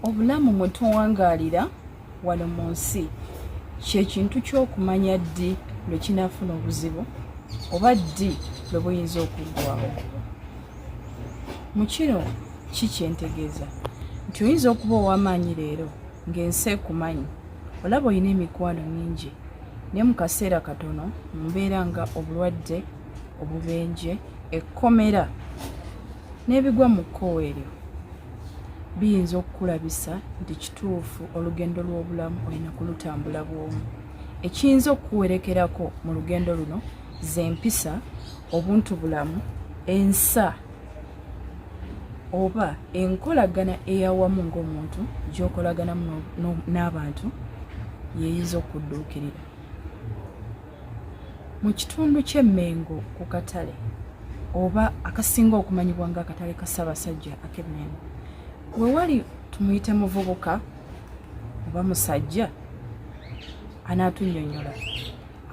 obulamu mwe tuwangaalira wano mu nsi kyekintu ky'okumanya ddi lwe kinaafuna obuzibu oba ddi lwe buyinza okuggwawo mu kino ki kyentegeeza nti oyinza okuba ow'amaanyi leero ng'ensi ekumanyi olaba olina emikwano mingi naye mu kaseera katono mumbeera nga obulwadde obubenje ekkomera n'ebigwa mu kkowe eryo biyinza okukulabisa nti kituufu olugendo lw'obulamu olina kulutambula bwomu ekiyinza okukuwerekerako mu lugendo luno z'empisa obuntu bulamu ensa oba enkolagana eyawamu ng'omuntu gy'okolaganamu n'abantu yeyinza okudduukirira Mu kitundu ky'e Mmengo ku katale oba akasinga okumanyibwa nga akatale ka Ssaabasajja ak'e Mmengo we wali tumuyite muvubuka oba musajja anaatunnyonnyola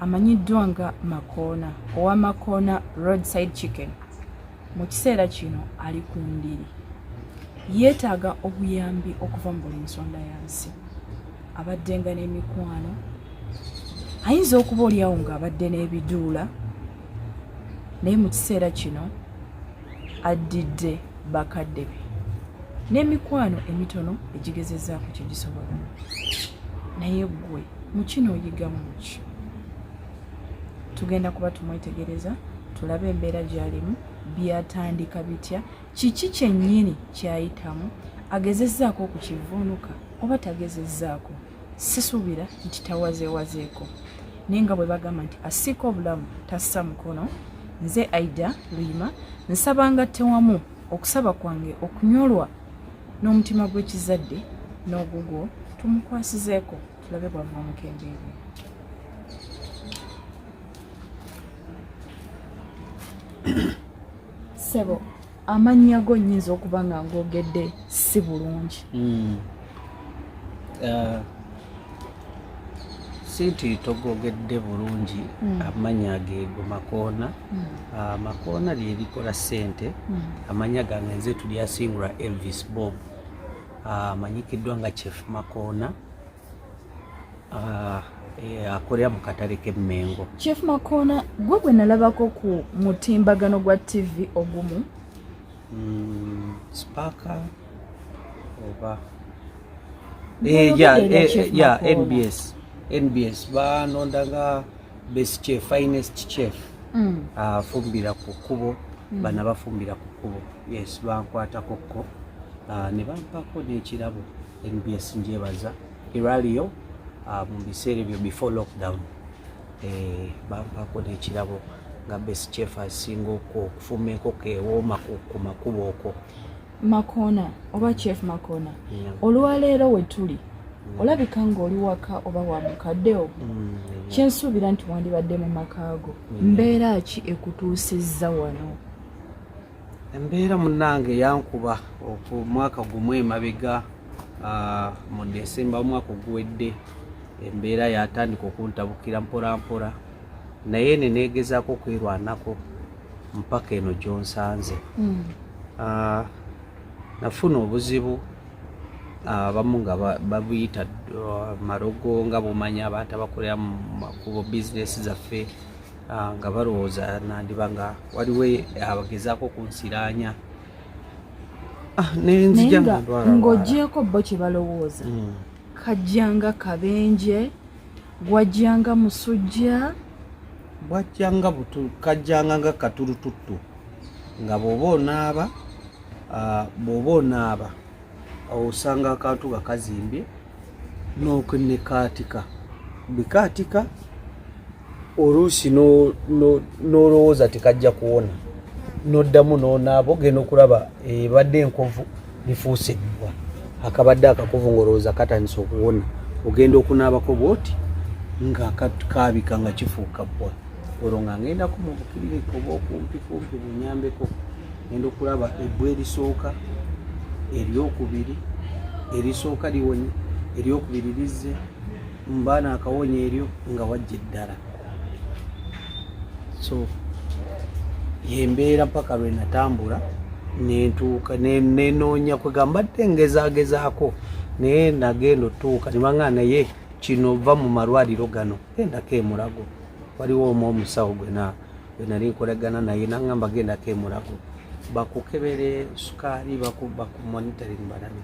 amanyiddwa nga Makoona owa Makoona roadside chicken. mu kiseera kino ali ku ndiri yeetaaga obuyambi okuva mu buli nsonda ya nsi abaddenga n'emikwano ayinza okuba olyawo ng'abadde n'ebiduula naye mu kiseera kino addidde bakadde be n'emikwano emitono egigezezaako kyegisobola naye ggwe mukino oyigamu ki tugenda kuba tumwetegereza tulabe embeera gyalimu byatandika bitya kiki kyennyini kyayitamu agezezzaako okukivuunuka oba tagezezzaako sisuubira nti tawazeewazeeko naye nga bwe bagamba nti asiika obulamu tassa mukono nze aida luyima nsaba nga tewamu okusaba kwange okunyolwa n'omutima gw'ekizadde n'ogugwo tumukwasizeeko tulabe bwava omukembeere sebo amannya go nyinza okuba nga ngogedde si bulungi hmm. uh, si nti togogedde bulungi hmm. amannya geego makoona hmm. uh, makoona lyerikola sente amanya gange nze tulyasingula elvis bob Ah, amanyikiddwa nga chief makoona ah, eh, akolera mu katale k'emmengo chief makoona gwe gwe nalabako ku mutimbagano gwa tv ogumu mm, spaka oba eh, ya nbs nbs banondanga best chef finest chef mm. afumbira ku kkubo mm. bana bafumbira ku kkubo yes bankwatako ko uh, ne bampako n'ekirabo nbs njebaza eraliyo uh, mu biseera ebyo before lockdown eh, bampako n'ekirabo nga best chef asinga okwo okufumba enkoko ewooma ku makubo okwo makona oba chef makona yeah. olwaleero wetuli yeah. olabika ngaoli waka oba wa mukaddeo mm, yeah. kyensuubira nti wandibadde mu makaago yeah. mbeera ki ekutuusizza wano embeera munange yankuba omwaka gumu emabega uh, mu desemba omwaka oguwedde embeera yatandika okuntabukira mporampora naye nenegezaako okwerwanako mpaka eno gyonsanze hmm. ah, nafuna obuzibu abamu nga babuyita uh, marogo nga bumanya abantu abakolera mu makubo bizinesi zaffe uh, nga balowooza nandiba nga waliwo abagezaako okunsiraanya ah, nenzijang'ogyeko bo kye balowooza hmm. kajjanga kabenje gwajjanga musujja bwajjanga butu kajjanga nga katurututtu nga bwoba onaaba ah, bwoba onaaba osanga akantu nga kazimbye nokunekaatika bikaatika oluusi n'olowooza tekajja kuwona n'oddamu n'onaaba ogenda okulaba ebadde enkovu bifuuse ebbwa akabadde akakuvu ng'olowooza katandise okuwona ogenda okunaabako bwoti nga kaabika nga kifuuka bbwa olwo nga ngendaku mu bukiriniki oba okumpikumpi bunyambeko ngenda okulaba ebbwa erisooka eryokubiri erisooka liwonye eryokubiri lizze mbaana akawonya eryo nga wajja eddala so yembeera mpaka lwe natambula nentuuka nenoonya kwegamba tte ngezagezaako naye nagenda otuuka nebanga naye kino va mu malwaliro gano gendako emulago waliwo omu omusawo gwena wenali nkolagana naye nangamba gendako emulago bakukebere sukaali bakumonitoring balabe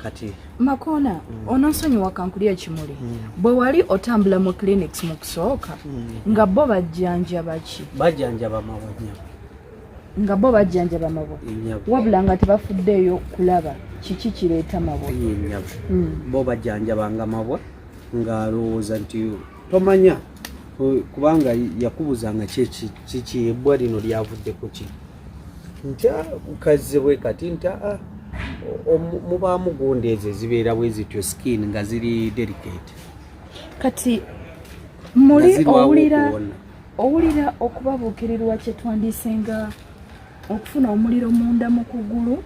kati makona mm. ononsonyiwa kankulya ekimuli mm. bwe wali otambula mu clinics mu kusooka mm. nga bo bajjanjaba ki bajjanjaba mawanya nga bo bajjanjaba mabwa wabula nga tebafuddeeyo kulaba kiki kireeta mabwa mm. bo bajjanjabanga mabwa ng'alowooza nti tomanya kubanga yakubuza nga kiki ebbwa lino lyavudde ku ki nta kazze bwe kati nta ah, mubaamu gundi ezo ezibeera bwe zityo skin nga ziri delicate kati muli owulira owulira okubabuukirirwa kye twandiise nga okufuna omuliro munda mu kugulu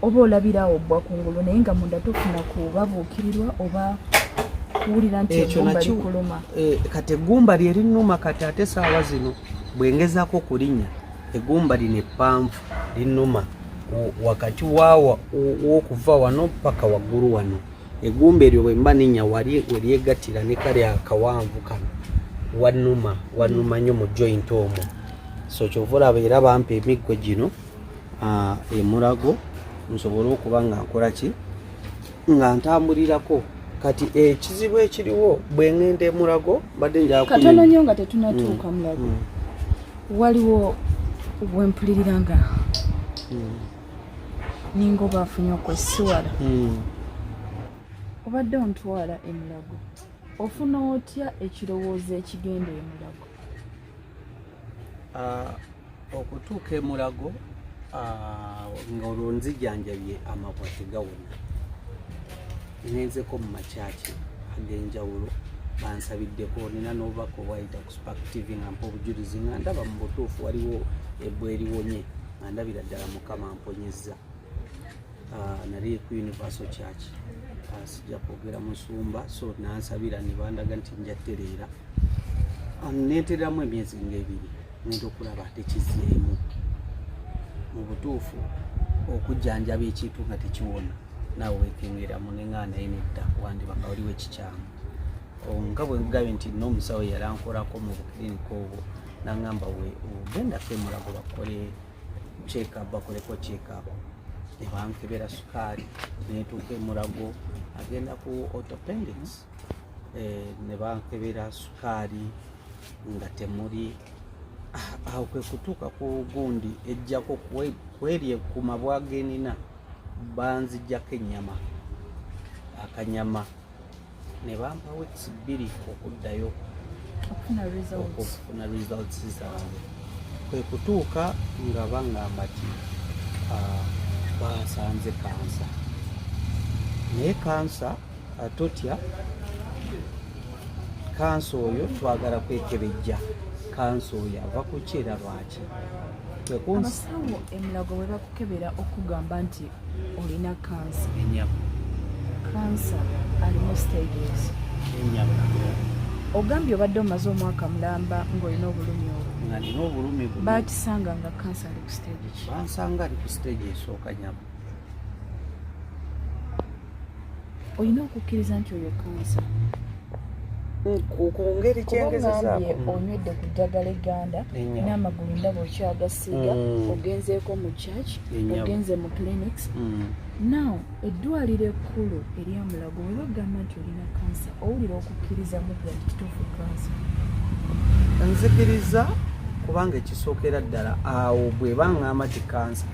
oba olabira awo obbwa ku ngulu naye nga munda tofuna kubabuukirirwa oba kuwulira nti egumba likuluma eh, kati eggumba lyerinuma kati ate saawa zino bwengezako kulinya egumba lino eppanvu linuma wakati wawa wokuva wano paka waggulu wano egumba eryo bwemba ninya wali weryegatira ne kali akawanvu kano wanuma wanuma nyo mu joint omwo so kyova olaba era bampa emiggo gino ah, emulago nsobole okuba nga nkola ki nga ntambulirako kati ekizibu ekiriwo bwe ŋŋenda emulago mbadde njakatono nyo nga tetunatuuka mm. mulago mm. waliwo wempulirira nga mm. ninga oba afunye okwesiwala obadde ontwala emulago ofuna otya ekirowoozo ekigenda emulago okutuuka emulago ng'olwo nzijanjabye amabwa tegawona nenzeko mu makyaki ag'enjawulo bansabiddeko nina n'obubaka obwayita ku spark tv nga mpa obujulizi nga ndaba mu butuufu waliwo ebwa eribonye nga ndabira ddala mukama mponyezza ah, nali ku universal church ah, sijja kwogera musumba so nansabira nebandaga nti nja tereera ah, netereramu emyezi ngaebiri nenda okulaba tekizeemu mu butuufu okujjanjaba ekintu nga tekiwona nawe wekengeramu nengaa naye nedda wandiba nga waliwo ekikyamu oh, nga bwengugabye nti nomusawo yalankolako mu bukiriniko obwo nangamba we ogenda femulago bakole check-up bakoleko check-up nebankebera sukaali netuuka emulago agenda ku autopendics eh, nebankebera sukaali nga temuli ah, awo kwekutuuka ku gundi ejjako kwerye ku mabwa genina banzijjako ennyama akanyama ne bampa weeks bbiri okuddayo okufuna results zange kwe kutuuka nga bangamba ti ah, basanze kansa naye kansa ah, totya kansa oyo twagala kwekebejja kansa oyo ava ku ki era lwaki abasawo emulago bwe bakukebera okugamba nti olina kansa kansa alimu stages ogambye obadde omaze omwaka mulamba ng'olina obulumi obwo bakisanga nga kansa ali ku stage bansanga ali ku stage esooka nyama olina okukkiriza nti oyo kansa kungeri kyengezezaako mm. onywedde ku ddagala egganda n'amagulu ndaba okyagasiiga mm. ogenzeeko mu church ogenze mu clinics mm. now eddwaliro ekkulu eryamulago we bagamba nti olina kansa owulira okukkiriza mu gwa kituufu kansa nzikiriza kubanga ekisookera ddala awo bwe bangamba ti kansa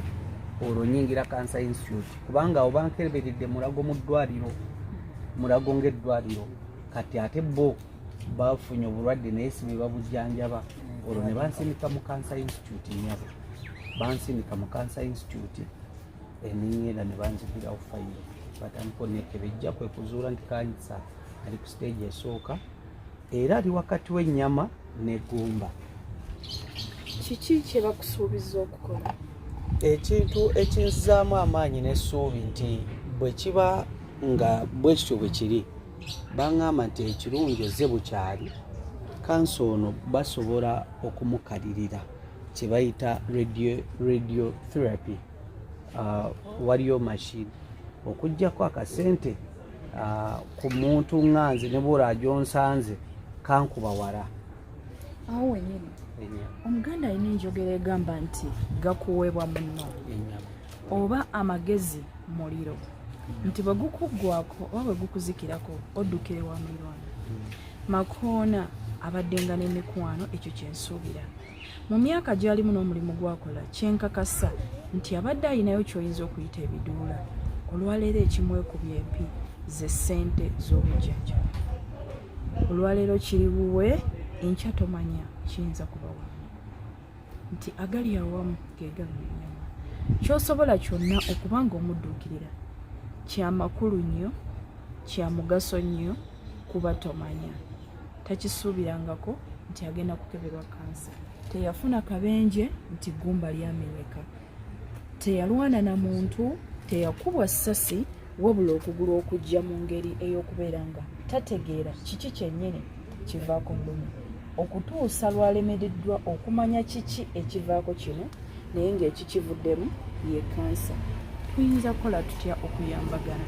olwo nyingira kansa institute kubanga awo bankeberedde mulago mu ddwaliro mulago ng'eddwaliro kati ate bo bafunye obulwadde naye si bebabujjanjaba olwo ne bansindika mu cancer institute nyabo bansindika mu cancer institute enenyera ne banzikirawo fayiro batandika onekebejja kwe kuzuula nti kansa ali ku siteegi esooka era ali wakati w'ennyama n'eggumba kiki kye bakusuubiza okukola ekintu ekinzizaamu amaanyi n'essuubi nti bwe kiba nga bwe kityo bwe kiri baŋŋamba nti ekirungi ozze bukyali kansa ono basobola okumukalirira kye bayita radio therapy uh, waliyo mashini okugyako akasente ah, ku muntu nga nze ne bwolaba gyonsanze kankuba wala awo wenyini omuganda alina enjogera egamba nti gakuweebwa munno oba amagezi muliro nti bwe gukuggwako oba bwe gukuzikirako oddukire wa mulirwana mm. makoona abaddenga n'emikwano ekyo kyensuubira mu myaka gyalimu n'omulimu gwakola kyenkakasa nti abadde alinayo kyoyinza okuyita ebiduula olwaleero ekimwekubya empi ze ssente z'obujjanjaba olwaleero kiri buwe enkya tomanya kiyinza kubawa nti agali awamu gegalunyama kyosobola kyonna okuba nga omudduukirira kyamakulu nnyo kyamugaso nnyo kuba tomanya takisuubirangako nti agenda kukeberwa kansa teyafuna kabenje nti gumba lyamenyeka teyalwana na muntu teyakubwa ssasi wabula okugulu okujja mu ngeri ey'okubeera nga tategeera kiki kyennyini kivaako mbumi okutuusa lwalemereddwa okumanya kiki ekivaako kino naye ng'ekikivuddemu ye kansa tuyinza kukola tutya okuyambagana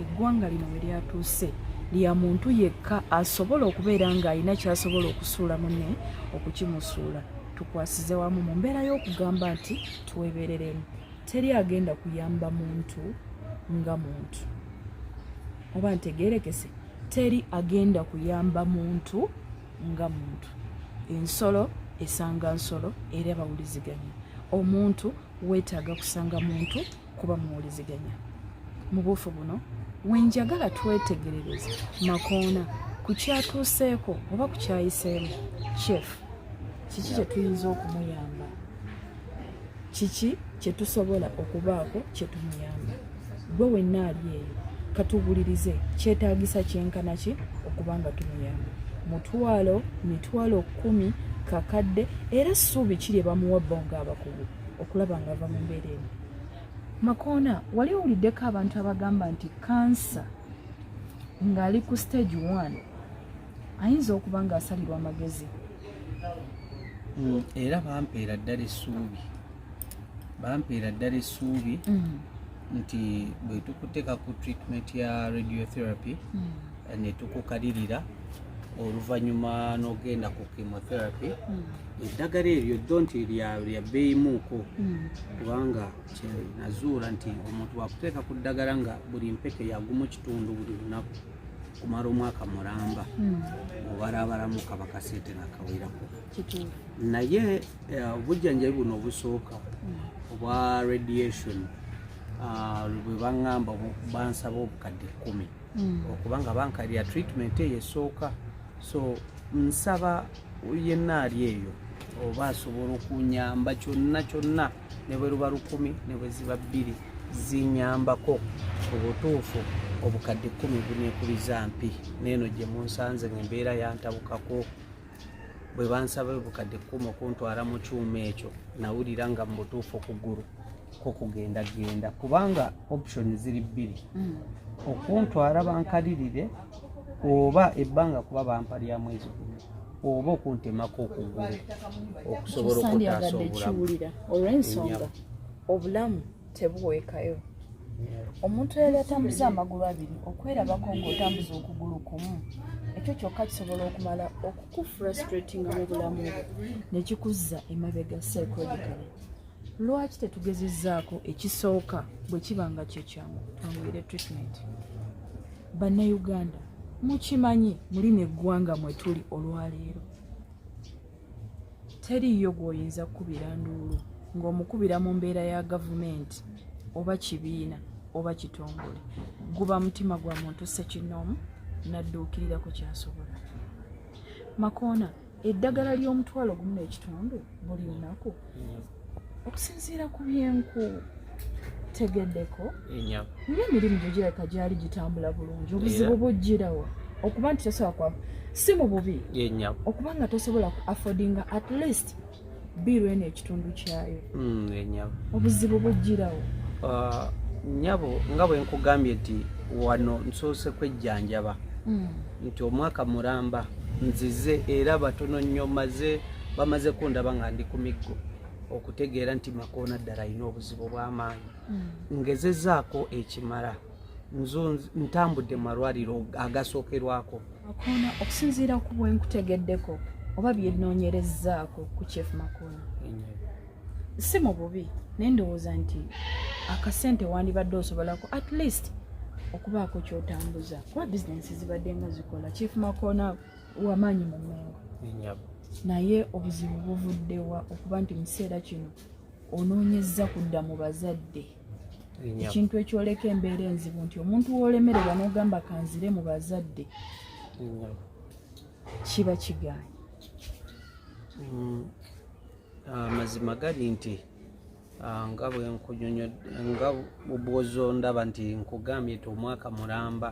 eggwanga lino we lyatuuse lya muntu yekka asobola okubeera ng'alina kyasobola okusuula mune okukimusuula tukwasize wamu mu mbeera y'okugamba nti twebereremu teri agenda kuyamba muntu nga muntu oba ntegerekese teri agenda kuyamba muntu nga muntu ensolo esanga nsolo era bawuliziganya omuntu wetaaga kusanga muntu kuba muwuliziganya mu buufu buno wenjagala twetegerereza makoona ku kyatuuseeko oba ku kyayiseemu chef kiki kye tuyinza okumuyamba kiki kye tusobola okubaako kye tumuyamba gwe wenna ali eyo katuwulirize kyetaagisa kyenkana ki okuba nga tumuyamba mutwalo mitwalo kumi kakadde era ssuubi ki lye bamuwa bo ng'abakugu okulaba nga ava mu mbeera emu makoona wali owuliddeko abantu abagamba nti kansa ng'ali ku stage one ayinza okuba nga asalirwa amagezi mm, era bampeera ddala essuubi bampeera ddala essuubi mm. nti bwe tukuteeka ku treatment ya radiotherapy mm. ne tukukalirira oluvannyuma n'ogenda ku chemotherapy eddagala eryo ddo nti lya bbeeyimuuko kubanga kyenazuula nti omuntu wakuteeka ku ddagala nga buli mpeke yagumu kitundu buli lunaku kumala omwaka mulamba hmm. obalabalamu kaba kasente nga kawerako naye eh, obujjanjabi buno obusooka hmm. obwa radiation ah, bwe baŋŋamba bansaba obukadde kkumi hmm. okubanga bankalira treatment eyo esooka so nsaba yenna ali eyo oba asobola okunyamba kyonna kyonna ne bwe luba lukumi ne bwe ziba bbiri zinyambako mu butuufu obukadde kkumi bunekubiza mpi neeno gye munsanze nga embeera yantabukako bwe bansaba obukadde kkumi okuntwala mu kyuma ekyo nawulira nga mu butuufu okugulu ko kugenda genda kubanga option ziri bbiri mm. okuntwala bankalirire oba ebbanga kuba bampa lya mwezi gumu oba okuntemako okugulu okusobola okutaasa obulamu obulamu tebuweekayo omuntu eyali atambuza amagulu abiri okwerabako ng'otambuza okugulu kumu ekyo kyokka kisobola okumala okukufrustratinga mu bulamu bwo ne kikuzza emabega psychologically lwaki tetugezezaako ekisooka bwe kiba nga kyekyamu twanguyire treatment bannayuganda mukimanyi muli neggwanga mwetuli olwaleero teriiyo gwoyinza kukubira nduulu ng'omukubira mu mbeera ya gavumenti oba kibiina oba kitongole guba mutima gwa muntu sekinoomu nadduukirira ku kyasobola makoona eddagala ly'omutwalo gumu n'ekitundu buli lunaku mm. okusinziira ku byenku tegeddeko nga emirimu gyo girabika gyali gitambula bulungi obuzibu bujjirawo okuba nti tosobola kwa si mu bubi okuba nga tosobola ku affordinga at least biiru eno ekitundu kyayo hmm, obuzibu bujjirawo ah, nyabo nga bwe nkugambye nti wano nsoose kwejjanjaba hmm. nti omwaka mulamba nzize era batono nnyo maze bamaze kundaba nga ndi ku miggo okutegeera nti makoona ddala alina obuzibu obw'amaanyi hmm. ngezezaako ekimala ntambudde malwaliro agasookerwako makoona okusinziira ku bwenkutegeddeko oba byenoonyerezaako ku chief makoona si mu bubi naye ndowooza nti akasente wandibadde osobolako at least okubaako kyotambuza kuba bizinensi zibadde nga zikola chief makoona wamaanyi mu mengo naye obuzibu buvuddewa okuba nti mu kiseera kino onoonyezza kudda mu bazadde ekintu ekyoleka embeera enzibu nti omuntu woolemererwa n'ogamba kanzire mu bazadde kiba kigaanyi mm. amazima ah, gali nti ah, nga nga bwozondaba nti nkugambye ti omwaka mulamba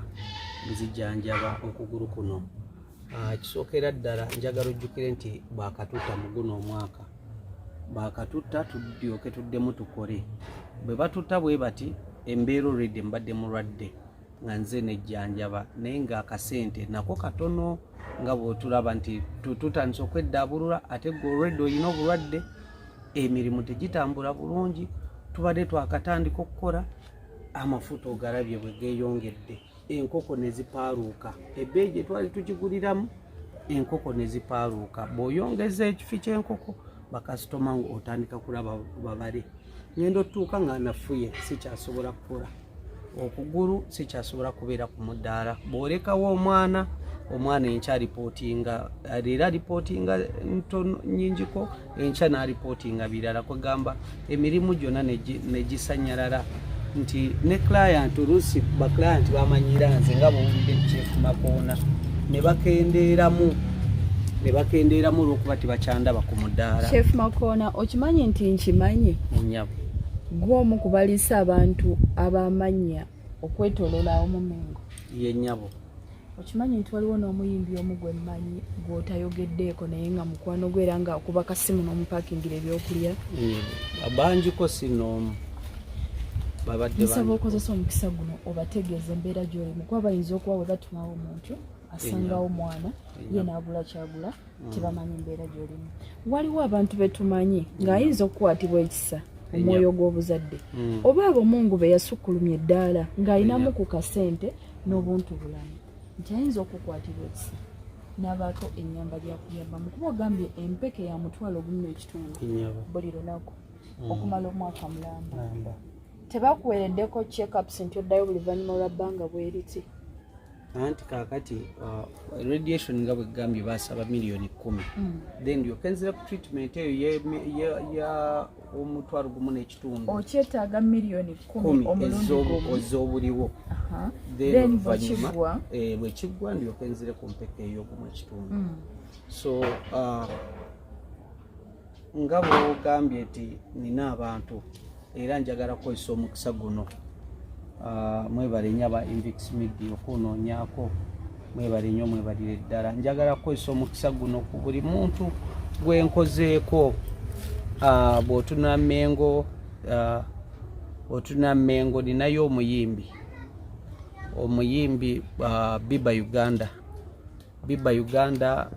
nzijanjaba okugulu kuno ah, kisookera ddala njagala ojjukire nti bwakatuta muguno omwaka bwakatuta tudyoke tuddemu tukole bwe batuta bwe bati embeera olwedde mbadde mulwadde nga nze nejjanjaba naye nga akasente nako katono nga bwotulaba nti tutandisa okweddaabulula ate gwe olwedde olina obulwadde emirimu tegitambula bulungi tubadde twakatandika okukola amafuta ogalabye bwe geeyongedde enkoko ne zipaaluuka ebbeeyi gye twali tukiguliramu enkoko ne zipaaluuka bw'oyongeza ekifi ky'enkoko bakasitoma otandika kulaba babale ngenda otuuka nga nafuye sikyasobola kukola okugulu sikyasobola kubeera ku mudaala bwolekawo omwana omwana enkya alipootinga leero alipootinga ntono nyingiko enkya n'alipootinga birala kwegamba emirimu gyonna negisanyalala nti ne client oluusi baclient bamanyira nze nga bwowulidde kyekumakoona ne bakendeeramu ne bakendeeramu olwokuba tebakyandaba ku mudaala chef makoona okimanyi nti nkimanyi nyabo gwomu kubaliisa abantu abamanya okwetoloola awo mu mengo ye nyabo okimanyi nti waliwo n'omuyimbi omu gwe mmanyi gw'otayogeddeeko naye nga mukwano gwe era nga okuba kasimu n'omupakingira ebyokulya mm, bangiko si n'omu nsaba okozesa omukisa guno obategeeza embeera gy'olimu kuba bayinza okuba bwe batumawo omuntu asangawo mwana ye naagula kyagula mm. tebamanyi mbeera gyolimu waliwo abantu betumanyi ng'ayinza okukwatibwa ekisa omwoyo gw'obuzadde mm. oba abomungu be yasukkulumya eddaala ng'alinamu ku kasente n'obuntu bulamu nti ayinza okukwatibwa ekisa n'abaako ennyamba gyakuyambamu kuba ogambye empeke ya mutwalo ogumu n'ekitundu buli lunaku mm. okumala omwaka mulamba tebakuweereddeko checkups nti oddayo buli vanyuma lwa bbanga bweriti anti kakati uh, radiation nga bwegambye basaba miliyoni kumi mm. then yokenzera ku treatment eyo ya omutwalo gumu n'ekitundu okyetaaga miliyoni kumi ez'obuliwo then oluvannyuma eh, bwekiggwa ndiyokenzere ku mpeka ey'ogumu ekitundu mm. so uh, nga bwogambye nti nina abantu era njagala kukozesa omukisa guno ah, mwebale nyo aba invix media okunoonyako mwebale nyo mwebalire ddala njagala kukozesa omukisa guno ku buli muntu gwenkozeeko ah, bwotuna mengo ah, otuna mengo ninayo omuyimbi omuyimbi biba uganda bibba uganda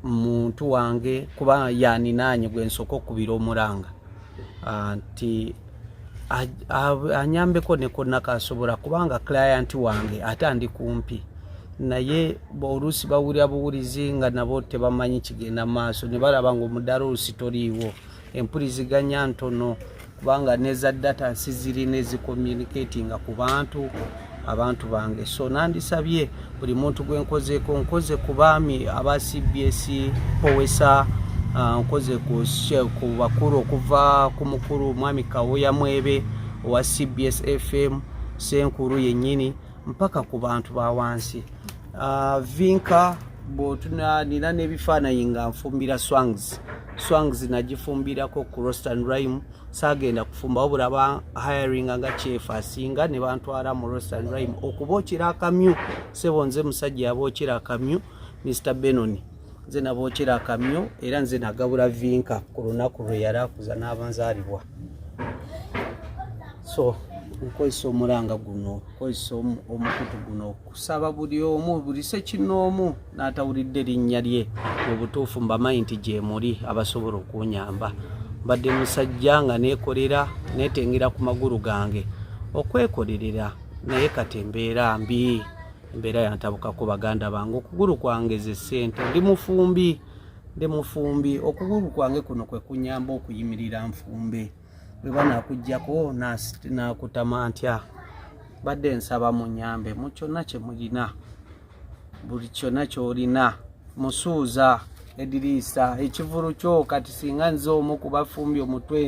muntu wange kuba yaninaanye gwe nsooka okubira omuranga ah, nti anyambeko nekonakasobola kubanga client wange ate andi kumpi naye oluusi bawulira buwulizi nga nabo tebamanyi kigenda maaso ne balaba nga omudaala oluusi toliiwo empuliziganya ntono kubanga neza data nsi zirina ezicommunicatinga ku bantu abantu bange so nandisabye buli muntu gwe nkozeeko nkoze ku baami aba cbs powesa ah, nkoze ku bakulu okuva ku mukulu mwami kawoya mwebe owa cbs fm senkulu yennyini mpaka ku bantu ba wansi uh, vinka bwotunanira n'ebifaanayi nga nfumbira swangs swangs nagifumbirako ku rostan rime saagenda kufumba wabula ba hiringa nga kyefu asinga ne bantwala mu rostan rime okuba okira akamyu sebo nze musajja yaba okira akamyu mr benoni nze nabookera akamyo era nze nagabula vinka ku lunaku lwe yali akuza n'abanzaalibwa so okukozesa omulanga guno okukozesa omukutu guno okusaba buli omu buli sekinoomu n'atawulidde linnya lye mu butuufu mbamanyi nti gyemuli abasobola okunyamba mbadde musajja nga neekolera neetengera ku magulu gange okwekolerera naye kati embeera mbi embeera yantabukako baganda bange okugulu kwangeze ssente ndi mufumbi ndi mufumbi okugulu kwange kuno kwe kunyamba okuyimirira nfumbe bwe banakuggyako nakutama ntya badde nsaba munyambe mu kyonna kye mulina buli kyonna kyolina musuuza ediriisa ekivulu kyo kati singa nze omu kubafumbi omutwe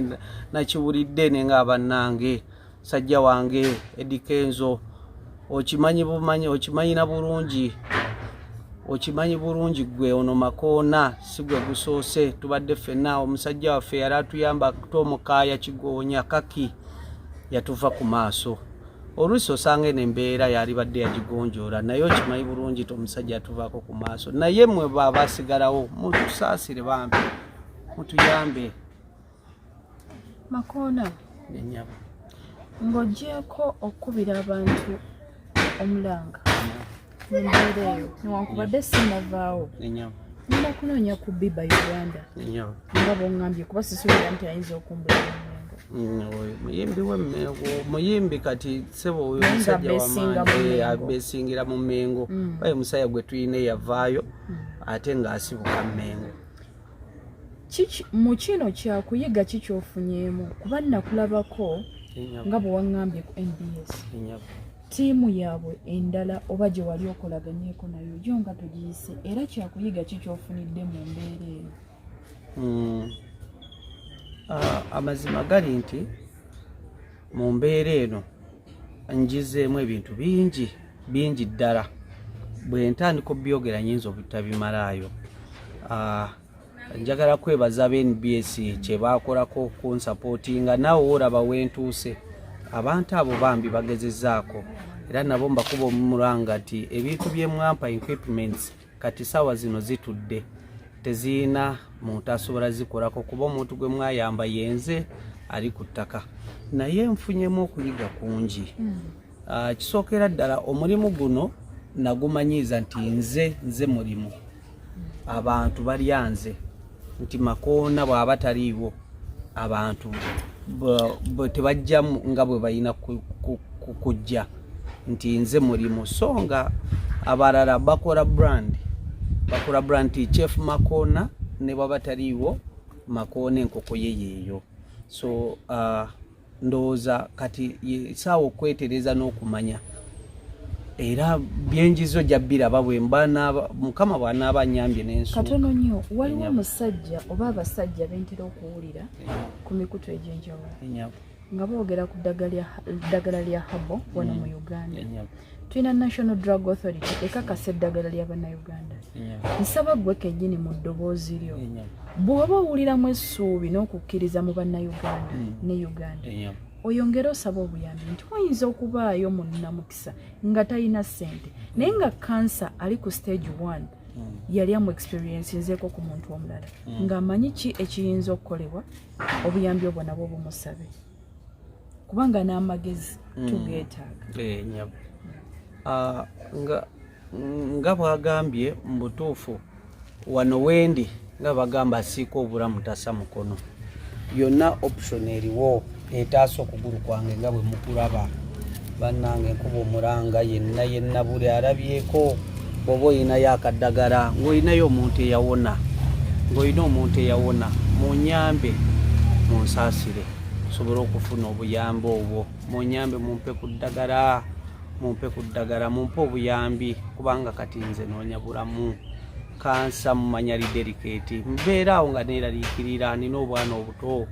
nakiwulidde nenga abannange sajja wange Eddie Kenzo okimanyi bumanyi okimanyi na bulungi okimanyi bulungi gwe ono makoona si gwe gusoose tubadde ffenna omusajja waffe yali atuyamba akuta omukaaya kigoonya kaki yatuva ku maaso oluusi osanga eno embeera yalibadde yagigonjoola naye okimanyi bulungi ti omusajja yatuvaako ku maaso naye mwe baabasigalawo mutusaasire bambi mutuyambe makoona enyabo ng'ogyeko okukubira abantu omulanga embeera eyo newankubadde sinavaawo nina kunoonya ku biba uganda nga bongambye kuba sisuubira nti ayinza okumbulira muyimbi muyimbi kati sebo oyo musajja wamaanyi abesingira mu mengo baye musajja gwe tuyina eyavaayo ate ngaasibuka mengo mu kino kyakuyiga ki kyofunyeemu kuba nakulabako nga bwe waŋŋambye ku nbs ttiimu yaabwe endala oba gye wali okolaganyeko nayo yo nga togiyise era kyakuyiga ki kyofunidde mu mbeera eyo hmm. ah, amazima gali nti mu mbeera eno njizeemu ebintu bingi bingi ddala bwe ntandika obyogera nyinza obutabimalaayo ah, njagala kwebaza aba nbs kyebakolako kunsapootinga naawe woolaba wentuuse abantu abo bambi bagezezaako era nabo mbakuba omumulanga nti ebintu byemwampa equipments kati saawa zino zitudde tezirina muntu asobola zikolako kuba omuntu gwe mwayamba yenze ali ku ttaka naye nfunyemu okuyiga kungi hmm. ah, kisookera ddala omulimu guno nagumanyiiza nti nze nze mulimu abantu balya nze nti makoona bwaba taliiwo abantu tebajja nga bwe balina kujja nti nze mulimu so nga abalala bakola brand bakola brand ti chef makoona ne bwaba taliiwo makoona enkoko ye yeeyo so uh, ndowooza kati yesaawa okwetereza n'okumanya era byenjizo jabiraba bwemba mukama bwanaaba anyambye nenskatono nnyo waliwo omusajja oba abasajja bentera okuwulira ku mikutu egy'enjawulo nga boogera ku ddagala lya habo wano mu mm. uganda Enyabu. tulina national drug authority ekakasa eddagala lya bannayuganda nsaba gwe kenyini mu ddoboozi lyo bw'oba owuliramu essuubi n'okukkiriza mu bannayuganda mm. ne uganda oyongere osaba obuyambi nti wayinza okubaayo munnamukisa nga talina ssente naye nga kansa ali ku stage one mm. yali amu experiensi nzeeko ku muntu omulala mm. ng'amanyi ki ekiyinza okukolebwa obuyambi obwo nabwo bumusabe mm. kubanga n'amagezi mm. tugeetaaga eh, nyabo ah, nga nga bwagambye mu butuufu wano wendi nga bagamba asiika obulamu tasa mukono yonna option eriwo etaasa okugulu kwange nga bwe mukulaba bannange nkuba omulanga yenna yenna buli alabyeko bwoba olinayo akaddagala ng'olinayo omuntu eyawona ng'olina omuntu eyawona munyambe munsaasire osobole okufuna obuyambi obwo munyambe mumpe ku ddagala mumpe ku ddagala mumpe obuyambi kubanga kati nze noonya bulamu kansa mumanya lideriketi mbeera awo nga neeraliikirira nina obwana obuto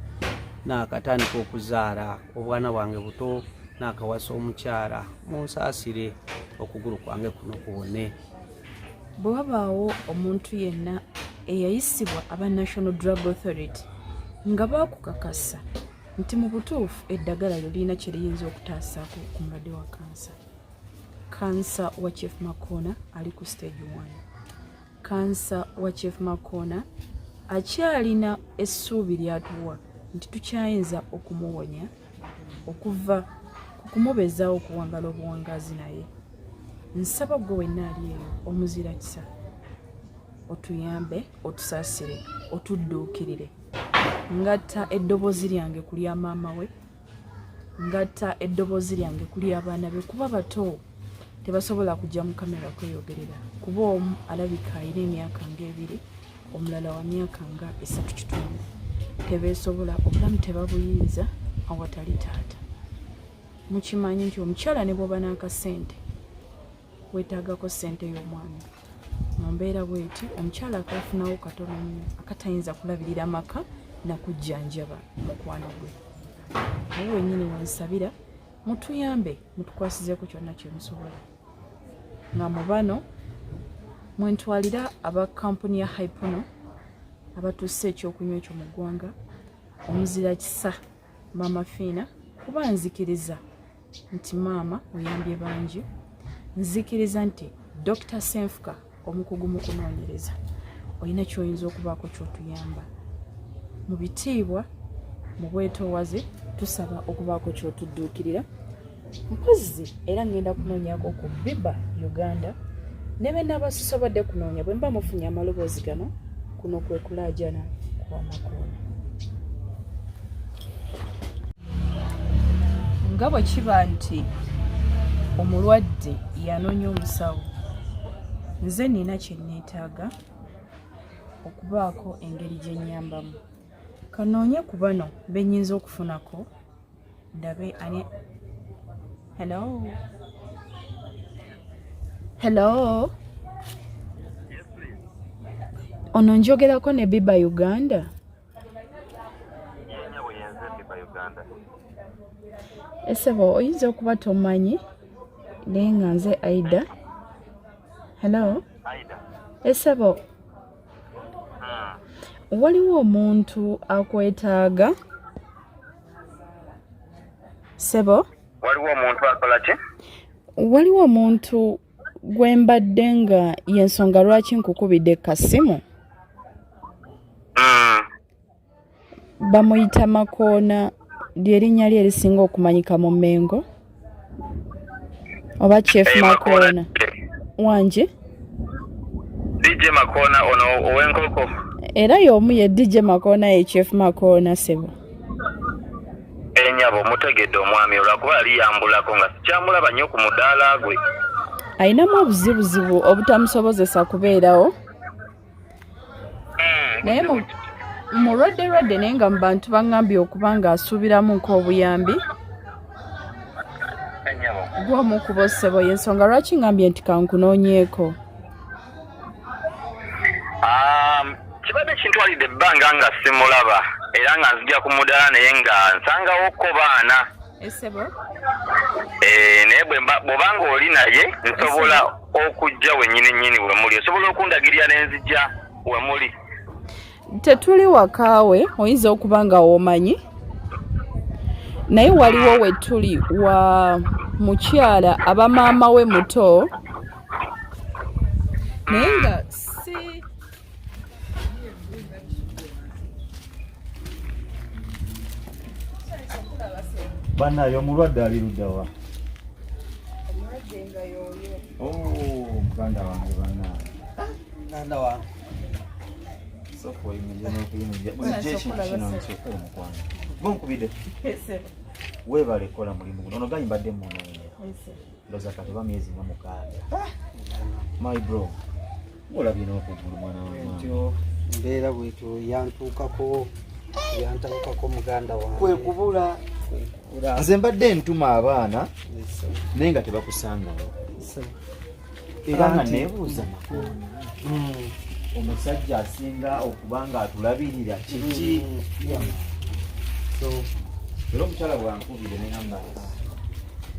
naakatandika okuzaala obwana bwange buto nakawasa omukyala munsaasire okugulu kwange kuno kuwone bwe wabaawo omuntu yenna eyayisibwa aba national drug authority nga baakukakasa nti mu butuufu eddagala lyo lirina kye liyinza okutaasaako ku mulwadde wa kansa kansa wa chief makona ali ku stage one kansa wa chief makona akyalina essuubi lyatuwa nti tukyayinza okumuwonya okuva ku kumubeezaawo okuwangala obuwangaazi naye nsaba gwe wenna ali eyo omuzira kisa otuyambe otusaasire otudduukirire ngatta eddoboozi lyange ku lya maama we ngatta eddoboozi lyange kuli abaana be kuba bato tebasobola kujja mu kamera kweyogerera kuba omu alabika alina emyaka nga ebiri omulala wa myaka nga esatu kitundu tebeesobola obulamu tebabuyinza awatali taata mukimanyi nti omukyala ne bwoba n'akasente wetagako sente y'omwana mu mbeera bweti omukyala akafunawo katono nnyo akatayinza kulabirira maka nakujjanjaba mukwano gwe awo wenyini wansabira mutuyambe mutukwasizeeko kyonna kyemusobola nga mu bano mwentwalira aba kampuni ya hypono abatuusa ekyokunywa ekyo mu ggwanga omuzira kisa mama fiina kuba nzikiriza nti maama oyambye bangi nzikiriza nti dr senfuka omukugu mu kunoonyereza olina kyoyinza okubaako kyotuyamba mu bitiibwa mu bwetoowaze tusaba okubaako kyotudduukirira mpozzi era ngenda kunoonyako ku biba uganda ne benabasisobadde kunoonya bwe mba mufunye amaloboozi gano kuno kwe kulaajana kwamakoona nga bwe kiba nti omulwadde yanoonya omusawo nze nina kyenneetaaga okubaako engeri gye nnyambamu kanoonye ku bano benyinza okufunako ndabe ani hello hello ono njogerako ne biba uganda esebo oyinza okuba tomanyi naye nga nze aida hello esebo hmm. waliwo omuntu akwetaaga sebo waliwo omuntu akola ki waliwo omuntu gwe mbadde nga yensonga lwaki nkukubidde kasimu hmm. bamuyita makoona lyerinnya lye erisinga okumanyika mu mengo oba chief hey, makona wangi dj makona ono owenkoko era y'omu ye dj makona ye chief makona sebo enyabo eh, mutegedde omwami olwakuba yali yambulako nga sikyamulaba nnyo ku mudaala gwe alinamu obuzibuzibu obutamusobozesa kubeerawo naye mulwadde lwadde naye nga mu bantu baŋambye okuba ng'asuubiramu nk'obuyambi gwomu kuba osebo yensonga lwaki ŋambye nti kankunoonyeeko um, kibadde kintwalidde ebbanga nga simulaba era nga nzija ku mudala naye nga nsangawo ko baana esebo eh naye bwobanga oli naye nsobola okujja wenyini nyini wemuli osobola okundagirira nenzija wemuli tetuli wakaawe oyinza okuba nga womanyi naye waliwo wetuli wa mukyala aba maama we muto naye nga si banaye omulwadde ali luddawa oh, muganda wange banaye muganda wange weebale kukola mulimu guno ono gayi mbadde munonya ndoza katoba myezi nga mukaaga ah! my bro olabye n'okugulu mwana wentyo mbeera bwetyo yantuukako yantabukako muganda wange kwe kubula nze mbadde ntuma abaana naye nga tebakusangawo era nga nebuuza makulu hmm. omusajja asinga okuba nga atulabirira kiki hmm. era omukyala bwankubire neyamba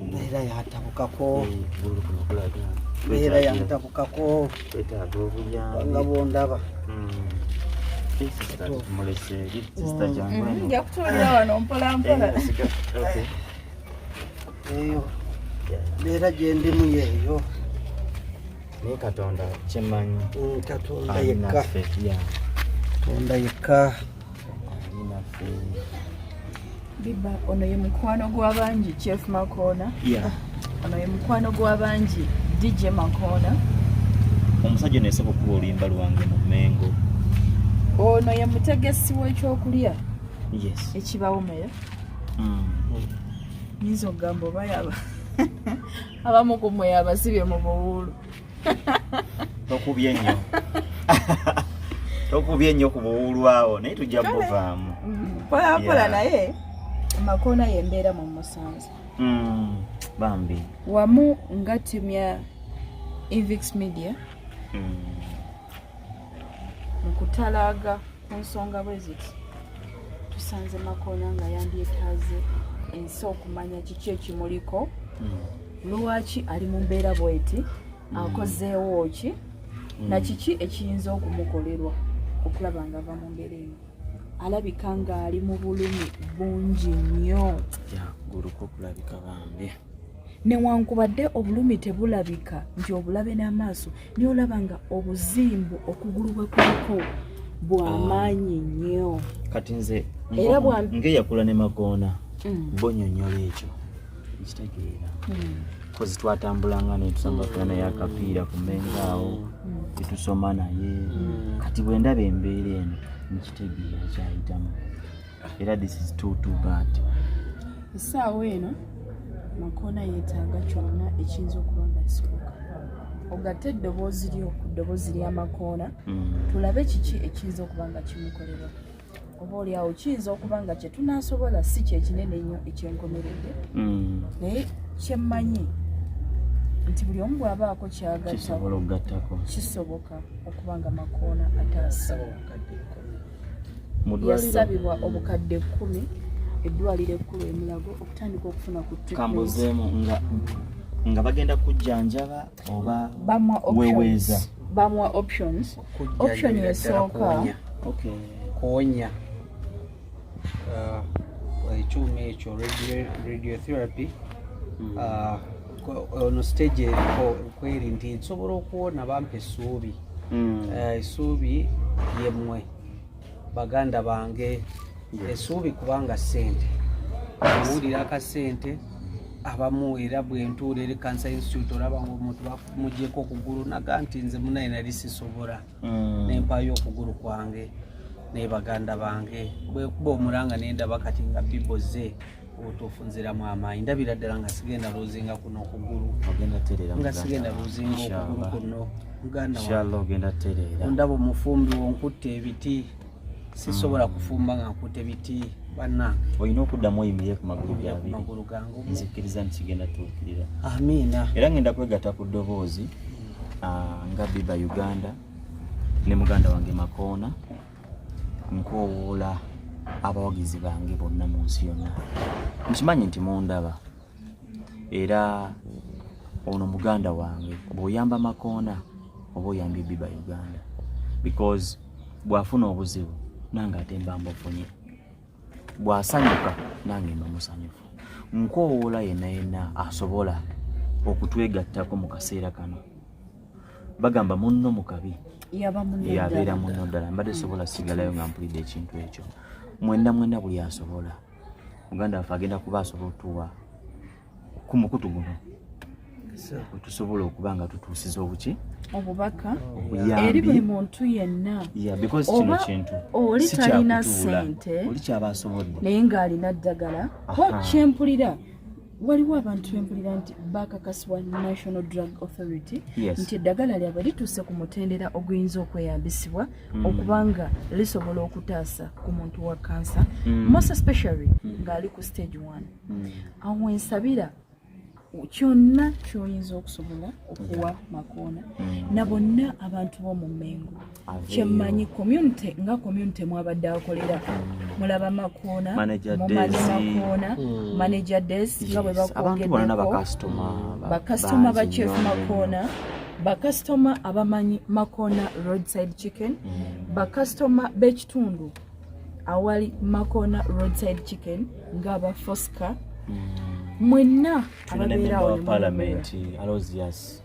mbeera yantabukako mbeera yantabukako nga bwondaba nja kutulira wano mpolampola eyo mbeera gyendimu yeeyo naye katonda kyemanyi katonda yekka katonda yekka biba ono ye mukwano gw'abangi chef makoona ono ye mukwano gw'abangi dj makoona omusajja nayesaba okuba oluyimba lwange mu mengo ono ye mutegesi w'ekyokulya ekibawo meya mm. yinza okugamba oba yaba abamu ku mwe abasibye mu buwuulu tokubye nnyo tokubye nnyo ku buwulwawo naye tujja buvaamu mm, mpolampola naye amakoona yembeera mu musanze mm, bambi wamu nga timu ya evix media mm. mu kutalaaga ku nsonga bwe ziti tusanze makoona nga yandyetaaze ensi okumanya kiki ekimuliko hmm. lwaki ali mu mbeera bweti hmm. akozeewo ki hmm. na kiki ekiyinza okumukolerwa okulaba nga ava mu mbeera eno alabika ng'ali mu bulumi bungi nnyo guluka okulabika bambi yeah. newankubadde obulumi tebulabika nti obulabe n'amaaso naye olaba nga obuzimbu okugulu bwe kuliko bwamaanyi nnyo kati nze era ngeyakula ne magoona mm. bonyonyola ekyo nkitegeera mm. kozi twatambulanga netusambagana naye akapiira ku menga awo mm. tetusoma naye kati bwe ndaba embeera eno nkitegeera kyayitamu era this is too too bad essaawa eno makoona yeetaaga kyonna ekiyinza okuba nga kisoboka ogatte eddoboozi lyo ku ddoboozi lya makoona mm. tulabe kiki ekiyinza okuba nga kimukolebwa oba olyawo kiyinza okuba nga kye tunaasobola si kyekinene ennyo ekyenkomeredde mm. naye kyemmanyi nti buli omu bw'abaako kyagatta kisoboka okuba nga makoona ataasa yasabibwa obukadde kkumi eddwaliro ekkulu emulago okutandika okufuna ku kambuzeemu nga nga bagenda kujjanjaba oba weweeza bamuwa options option esooka kuwonya uh, ekyuma ekyo radiotherapy hmm. uh, ono stage eriko kweri nti nsobola okuwona bampa essuubi hmm. eh, essuubi yemmwe baganda bange essuubi kubanga ssente owulira akasente abamu era bwentuula eri cancer institute olaba nga omuntu bamugyeko okugulu naga nti nze munaye nali sisobola hmm. nempayo okugulu kwange naye baganda bange bwekuba omulanga nendaba kati nga biboze obutuufu nziramu amaanyi ndabira ddala nga sigenda luzinga kuno okugulu nga sigenda luzinga okugulu kuno mugandaondaba omufumbi wonkutte ebiti sisobola hmm. kufumba nga nkutte biti banna olina okuddamu oyimire ku magulu gabiri gangu nzikkiriza nti kigenda tuukirira amiina era ngenda kwegata ku ddoboozi ah, nga biba uganda ne muganda wange makoona nkoowoola abawagizi bange bonna mu nsi yonna nkimanyi nti mundaba era ono muganda wange bw'oyamba makoona oba oyambye biba uganda because bw'afuna obuzibu nange ate mba mbufunye bw'asanyuka nange mba musanyufu nkoowoola yenna yenna asobola okutwegattako mu kaseera kano bagamba munno mukabi yabeera munno ddala mbadde sobola sigalayo nga mpulidde ekintu ekyo mwenda mwenda buli asobola muganda waffe agenda kuba asobola otuwa ku mukutu guno tusobola okuba nga tutuusiza obuki obubaka eri buli muntu yenna oba oli talina sente naye ng'alina ddagala kyempulira waliwo abantu bempulira nti bakakasibwa national drug authority nti eddagala lyabwe lituuse ku mutendera oguyinza okweyambisibwa mm. okubanga lisobola okutaasa ku muntu wa kansa mm. most especially mm. ng'ali ku stage one awo ensabira kyonna kyoyinza okusobola okuwa makoona na bonna abantu b'omu mengo kyemmanyi community nga community mwabadde akolera mulaba makoona mumanyi makoona hmm. manager des nga bwe bakwogeddekobakasitoma bakyefu makoona bakasitoma abamanyi makoona roadside chicken hmm. bakasitoma b'ekitundu awali makoona roadside chicken nga aba fosca hmm. mwenna ababeerawo ne mu palamenti alosius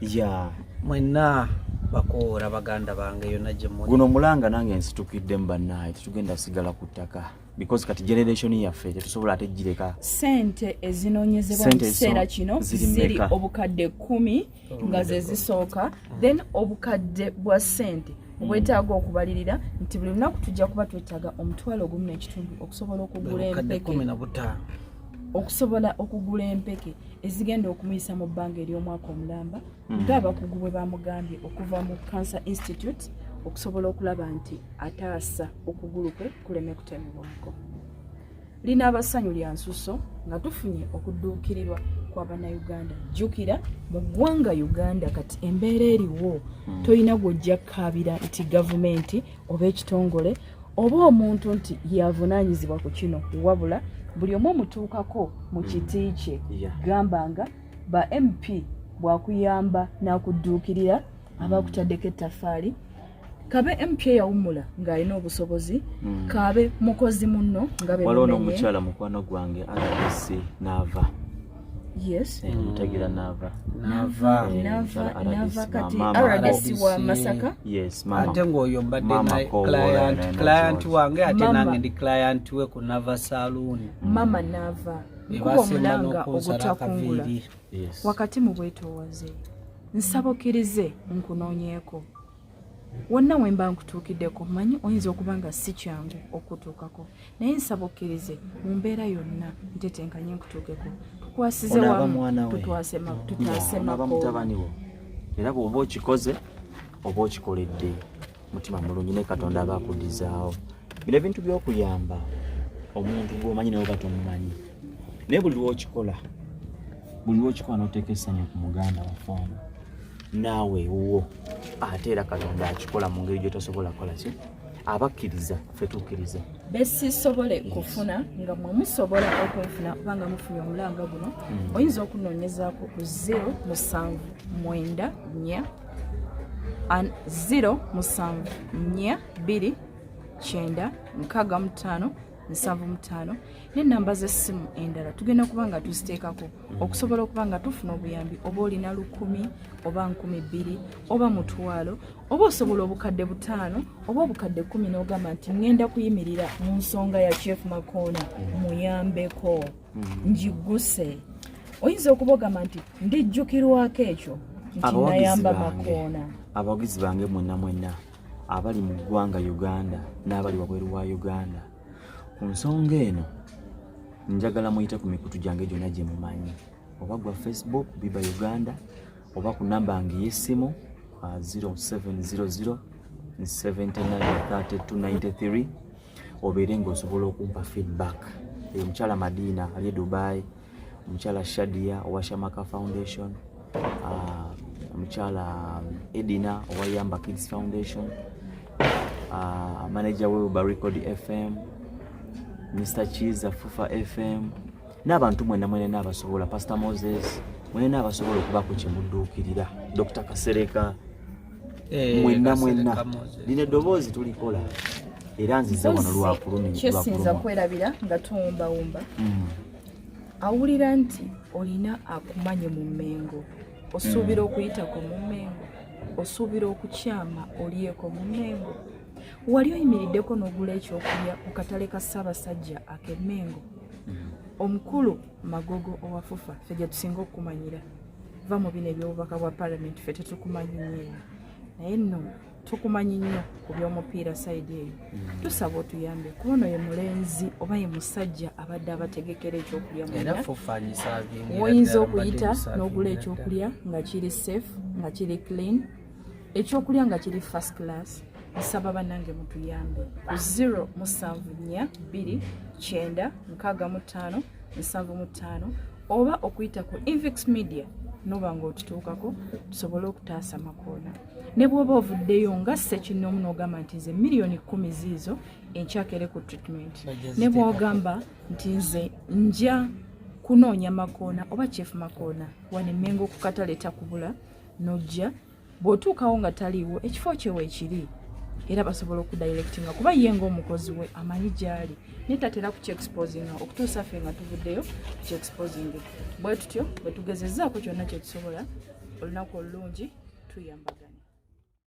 ya mwenna bakoora baganda bange yona gyemuli guno mulanga nange nsitukidde mu bannaaye tetugenda sigala ku ttaka because kati generation yaffe tetusobola ate gireka sente ezinonyezebwa mu kiseera kino ziri obukadde kumi nga ze zisooka then obukadde bwa sente obwetaaga okubalirira nti buli lunaku tujja kuba twetaaga omutwalo ogumu n'ekitundu okusobola okugula empeke okusobola okugula empeke ezigenda okumuyisa mu bbanga ery'omwaka omulamba hmm. ng'abakugu bwe bamugambye okuva mu cancer institute okusobola okulaba nti ataasa okugulu kwe kuleme kutemebwako lina abasanyu lya nsuso nga tufunye okudduukirirwa kwa bannayuganda jjukira mu ggwanga uganda kati embeera eriwo hmm. tolina gw'ojja kukaabira nti gavumenti oba ekitongole oba omuntu nti yavunaanyizibwa ku kino wabula buli omu omutuukako mu mm. kiti kye gamba nga ba mp bwakuyamba n'akudduukirira mm. abakutaddeko ettafaali kabe mp eyawummula ng'alina obusobozi mm. kabe mukozi munno nga waliwo n'omukyala mukwano gwange aasi n'ava yes eh, mutagira mm. nava nava eh, nava nava kati rdc wa masaka yes mama ate ngoyo mbadde na client client wange ate nange ndi client we ku nava saloon mm. mama nava kuba omulanga ogutakungula wakati mu bwetoowaze nsabokirize nkunoonyeeko wonna we mba nkutuukiddeko manyi oyinza okuba nga si kyangu okutuukako naye nsaba okkirize mu mbeera yonna ntetenkanye nkutuukeko tukwasize wamu tutwasemakotutaasemakomutabaniwo era bwoba okikoze oba okikoledde mutima mulungi naye katonda aba akudizaawo bino ebintu by'okuyamba omuntu gwomanyi nawe batomumanyi naye buli lwokikola buli lwokikola noteeka essanyu ku muganda waffe ono naawe ewuwo ate era katonda akikola mu ngeri gyotasobola kola ki abakkiriza fetukkiriza besisobole kufuna nga mwe musobola okunfuna oba nga mufunye omulanga guno hmm. oyinza okunoonyezaako ku 0 musanvu mwenda nya 0 musanvu nya 2 kyenda nkaga mutaano nsanvu mutaano n'ennamba z'essimu endala tugenda kuba nga tuziteekako okusobola okuba nga tufuna obuyambi oba olina lukumi oba nkumi bbiri oba mutwalo oba osobola obukadde butaano oba obukadde kumi n'ogamba nti ŋŋenda kuyimirira mu nsonga ya chief makoona muyambeko ngiguse oyinza okuba ogamba nti ndijjukirwako ekyo nti nayamba makoona abawagizi bange mwenna mwenna abali mu ggwanga Uganda n'abali wabweru wa Uganda. Ku nsonga eno njagala muyite ku mikutu gyange gyonna gye mumanyi oba gwa Facebook Biba Uganda oba ku namba yange ey'essimu 0700 793293 obeere ng'osobola okumpa feedback. Omukyala Madiina ali e Dubai. omukyala Shadia owa Shamaka Foundation, uh, omukyala um, Edina owa Yamba Kids Foundation, uh, manager we Uba Record FM, Mr Chiza Fufa FM n'abantu mwena mwena n'abasobola Pastor Moses mwena n'abasobola okubaako kye mudduukirira Dr Kasereka eh, mwenna mwenna lino eddoboozi tulikola era nzize wano lwakulumikyesinza kwerabira nga tuwumbawumba hmm. awulira nti olina akumanye mu mmengo osuubira hmm. okuyitako mu mmengo osuubira okukyama olyeko mu mmengo wali oyimiriddeko n'ogula ekyokulya ku katale ka ssaabasajja ak'emmengo hmm. omukulu magogo owafufa fe gyetusinga okukumanyira va mu bino ebyobubaka bwa palamenti fe tetukumanyi nyeyo naye nno tukumanyi nnyo ku byomupiira sayidi eyo mm. tusaba otuyambe kuba ono ye mulenzi oba ye musajja abadde abategekera ekyokulya mwoyinza okuyita n'ogula ekyokulya nga kiri safe nga kiri clean ekyokulya nga kiri first class nsaba banange mutuyambe ku 0 musanvu nnya bbiri kyenda nkaaga mu ttaano nsanvu mu ttaano oba okuyita ku invix media noba nga otutuukako tusobole okutaasa makoona ne bwoba ovuddeyo nga sekinoomu nogamba nti nze miliyoni kumi ziizo enkyakere ku treatment ne bwogamba nti nze nja kunoonya makoona oba chief makoona wanemenga okukataleeta kubula nojja bw'otuukawo nga taliiwo ekifo kye weekiri era basobola okudirectinga kuba ye ngaomukozi we amanyi gyali naye tatera kukyexposinga okutuusa ffe nga tuvuddeyo kukyexposing bwe tutyo bwe tugezezaako kyonna kyetusobola olunaku olulungi tuyambagana